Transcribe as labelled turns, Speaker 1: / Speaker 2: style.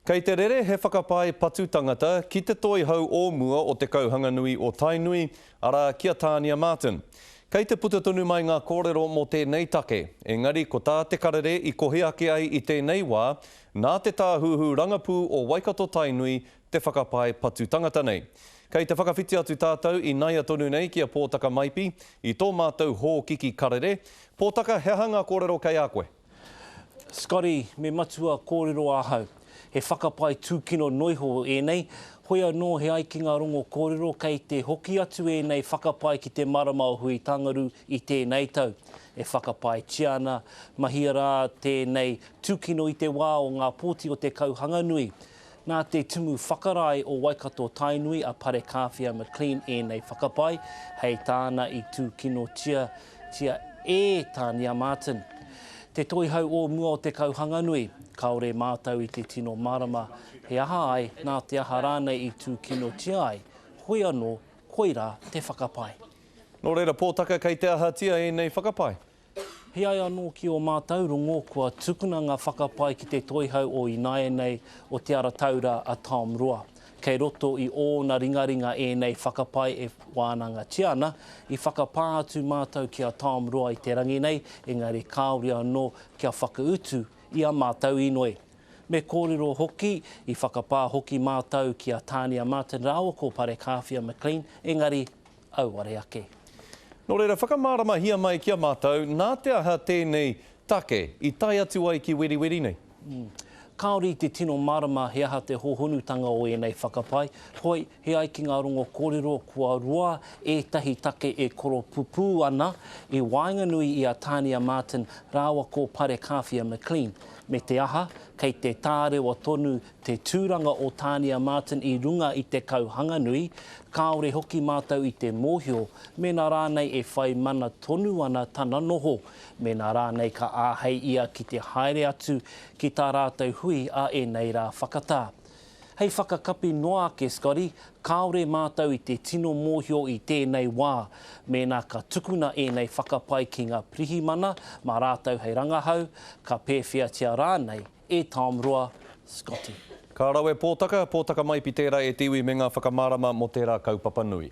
Speaker 1: Kei te rere he whakapae patu tangata ki te Toihau o mua o Te Kauhanganui o Tainui, arā, ki a Tānia Martin. Kei te puta tonu mai ngā kōrero mō tēnei take, engari ko tā Te Karere i kohi ake ai i tēnei wā, nā te Tāhuhu Rangapū o Waikato-Tainui te whakapae patu tangata nei. Kei te whakawhiti atu tātou ināia tonu nei ki a Pōtaka Maipi i tō mātou hōkiki karere. Pōtaka, he aha ngā kōrero kei a koe? Scotty,
Speaker 2: Me matua kōrero ahau. He whakapae tūkino noiho ēnei. Hoi anō he ai ki ngā rongo kōrero kei te hoki atu ēnei whakapae ki te marama o Huitangaru i tēnei tau. E whakapaetia ana, mahia rā tēnei tūkino i te wā o ngā pōti o te Kauhanganui. Nā te Tumu Whakarae o Waikato-Tainui a Parekāwhia McLean ēnei whakapae, hei tāna i tūkinotia tia e Tānia Martin. Te Toihau o mua o Te Kauhanganui, kāore mātou i te tino mārama he aha ai, nā te aha rānei i tūkinotia ai, hoi anō, koirā te whakapae. Nō reira,
Speaker 1: Pōtaka, kei te ahatia ēnei whakapae? He ai anō
Speaker 2: ki ō mātou rongo kua tukuna ngā whakapae ki te Toihau o Ināianei o Te Ara Taura a Tom Roa. Kei roto i ōna ringaringa ēnei whakapae e wānangatia ana. I whakapā atu mātou ki a Tom Roa i te rangi nei, engari kāore anō kia whakautu i ā mātou inoi. Me kōrero hoki, i whakapā hoki mātou ki a Tania Martin rāua ko Parekāwhia McLean, engari, auare ake. Nō reira,
Speaker 1: whakamāramahia mai ki a mātou nā te aha tēnei take i tae atu ai ki Weriweri nei? Kāore
Speaker 2: i te tino mārama he aha te hōhonutanga o ēnei whakapae, hoi, he ai ki ngā rongo kōrero kua roa ētahi take e koropupū ana i waenganui i a Tania Martin rāua ko Parekāwhia McLean, me te aha, kei te tārewa tonu te tūranga o Tānia Martin i runga i te kau hanganui, kāore hoki mātou i te mōhio mēnā rānei e whai mana tonu ana tana noho, mēnā rānei ka āhei ia ki te haere atu ki tā rātou hui a ēnei rā whakatā. Hei whakakapi noa ake, Scotty, kāore mātou i te tino mōhio i tēnei wā, mēnā ka tukuna ēnei whakapae ki ngā pirihimana mā rātou hei rangahau, ka pēwheatia rānei, E Tom Roa, Scotty.
Speaker 1: Ka rawe pōtaka, pōtaka maipi tērā e te
Speaker 2: iwi
Speaker 1: me ngā whakamārama mō tērā kaupapa nui.